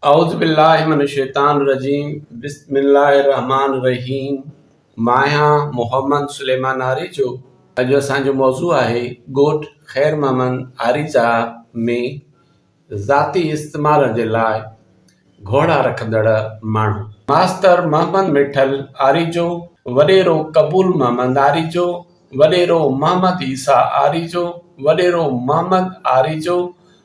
اعوذ بالله من الشيطان الرجيم بسم الله الرحمٰن الرحيم ماهيان محمد سليمان آريجو اڄ اسان جو موضوع آهي ڳوٺ خير محمد آريجا ۾ ذاتي استعمال جي لاء گهوڙا رکندڙ ماڻهو ماستر محمد مٺل آريجو، وڏيرو قبول محمد آريجو، وڏيرو محمد عيسيٰ آريجو، وڏيرو محمد آريجو،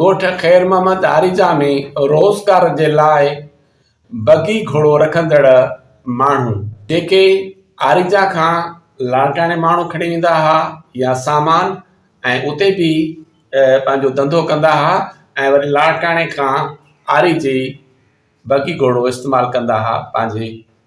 ڳوٺ خير محمد آريجا ۾ روزگار جي لاء بگي گهوڙو رکندڙ ماڻهو جيڪي آريجا کان لاڙڪاڻي ماڻهو کڻي ويندا ها يا سامان ۽ اتي به پنهنجو ڌنڌو ڪندا ها ۽ وري لاڙڪاڻي کان آريجي بگي گهوڙو استعمال ڪندا ها پنهنجي